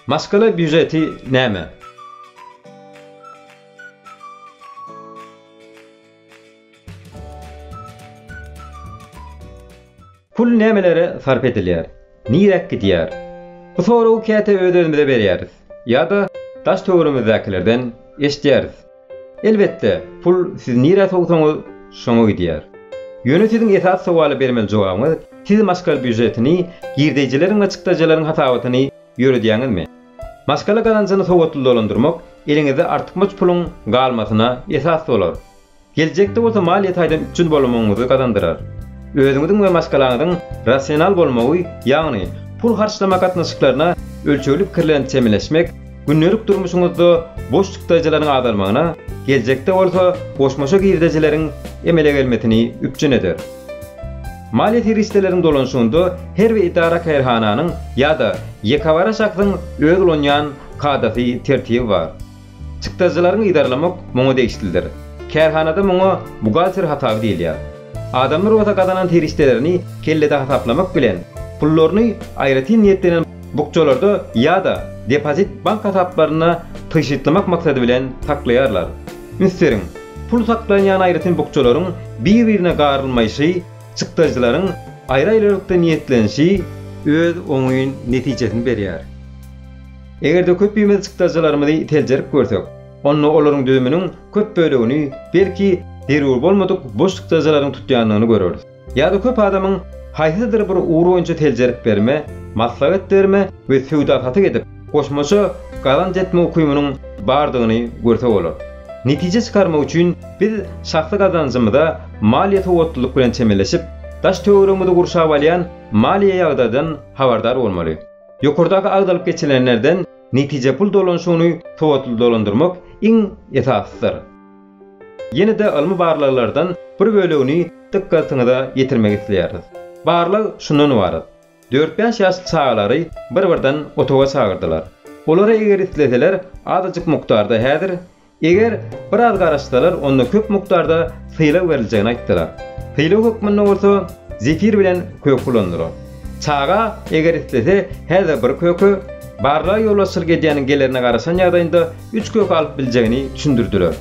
Maşgala býujeti näme? Pul nämelere sarp edilýär? Niräk gidýär? Bu soragy käte öz-özümize berýäris ýa-da daş-töweregimizdäkilerden eşidýäris. Elbetde, pul siz nirä sowsaňyz, şoňa gidýär. Ýöne siziň esas sowala bermeli jogabyňyz, siz maşgal býujetini, girdeýjileriň we çykdajylaryň hasabatyny ýöredýäňizmi? Maşgala gazanjyny sowatly dolandyrmak eliňizde artykmaç puluň galmasyna esas bolar. Geljekde bolsa maliýe taýdan üpjün bolamagyňyzy gazandyrar. Özüňiziň we maşgalaňyzyň rasional bolmagy, ýagny pul harçlama gatnaşyklaryna ölçegli pikir bilen çemeleşmek, Gündelik durmuşyňyzda boş çykdajylaryň azalmagyna, geljekde bolsa goşmaça girdejileriň emele gelmesini üpjün eder. Maliýe serişdeleriň dolanyşygynda her bir edara-kärhananyň ýa-da ýekebara şahsyň öz ulanýan kadasy, tertibi bar. Çykdajylaryňy yzarlamak muňa degişlidir. Kärhanada muňa buhgalter hasaby diýilýär. Adamlar bolsa gazanan serişdelerini kellede hasaplamak bilen, pullaryny aýratyn niýetlenen, bukjalarda ýa-da depozit bank hasaplarynda tygşytlamak maksady bilen saklaýarlar. Ünsteriň, pul saklanýan aýratyn bukjalaryň bir-birine garylmaýşy, çykdajylaryň aýry-aýrylykda niýetlenişi, öz oňyn netijesini berýär. Eger-de köpimiz çykdajylarymyzy seljerip görsek, onda olaryň düzüminiň köp bölegini, belki, zerur bolmadyk boş çykdajylaryň tutýandygyny göreris. Ýa-da köp adamyň haýsydyr bir ugur boýunça seljerip berme, maslahat berme we söwda-satyk edip, goşmaça gazanç etme ukymynyň bardygyny görse bolar. Netije çykarmak üçin biz şahsy gazanjymyza maliýe sowatlylyk bilen çemeleşip, daş-töweregimizi gurşap alýan maliýe ýagdaýdan habardar bolmaly. Ýokardaky agzalyp geçilenlerden netije pul dolanyşygyny sowatly dolandyrmak iň esasydyr. Ýene-de ylmy barlaglardan bir bölegini dykgatyňyza ýetirmek isleýäris. Barlag şundan ybarat, dört-bäş ýaşly çagalary bir-birden otaga çagyrdylar. Olara eger isleseler azajyk mukdarda häzir, eger biraz garaşsalar onda köp mukdarda sylag beriljegini aýtdylar. Sylag hökmünde bolsa zefir bilen kök ulandylar. Çaga eger islese häzir bir köke, barlaga ýolbaşçylyk edýäniň gelerine garaşan ýagdaýynda üç gök alyp biljegini düşündirdiler.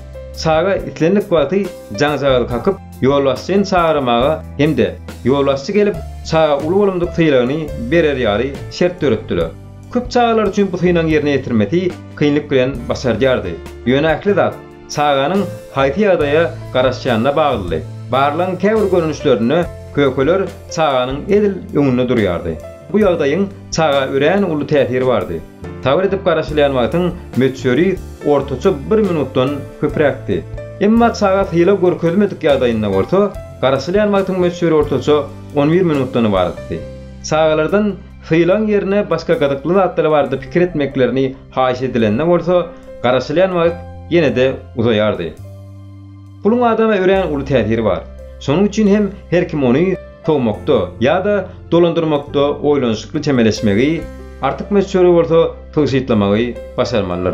Çaga islendik wagty jaňjagazy kakyp, ýolbaşçyny çagyrmaga hem-de ýolbaşçy gelip, çaga uly bolumdyk sylagyny berer ýaly şert döretdiler. Köp çagalar üçin bu synagyň ýerine ýetirmesi kynlyk bilen başardýardy. Ýöne ähli zat çaganyň haýsy ýagdaýa garaşýanyna baglydy. Barlagyň käbir görnüşlerinde kökeler çaganyň edil öňünde durýardy. Bu ýagdaýyň Çaga örän uly täsiri bardy. Sabyr edip garaşylýan wagtyň möçberi ortaça bir minutdan köpräkdi. Emma çaga sylag görkezmedik ýagdaýynda bolsa, garaşylýan wagtyň möçberi ortaça on bir minutdan ybaratdy. Çagalardan sylagyň ýerine başga gyzykly zatlar barada pikir etmeklerini haýyş edilende bolsa, garaşylýan wagt ýene-de uzaýardy. Puluň adama örän uly täsiri bar. Şonuň üçin hem her kim ony sowmakda ýa-da dolandyrmakda oýlanyşykly çemeleşmegi, artyk möçberi bolsa tygşytlamagy başarmalydyr.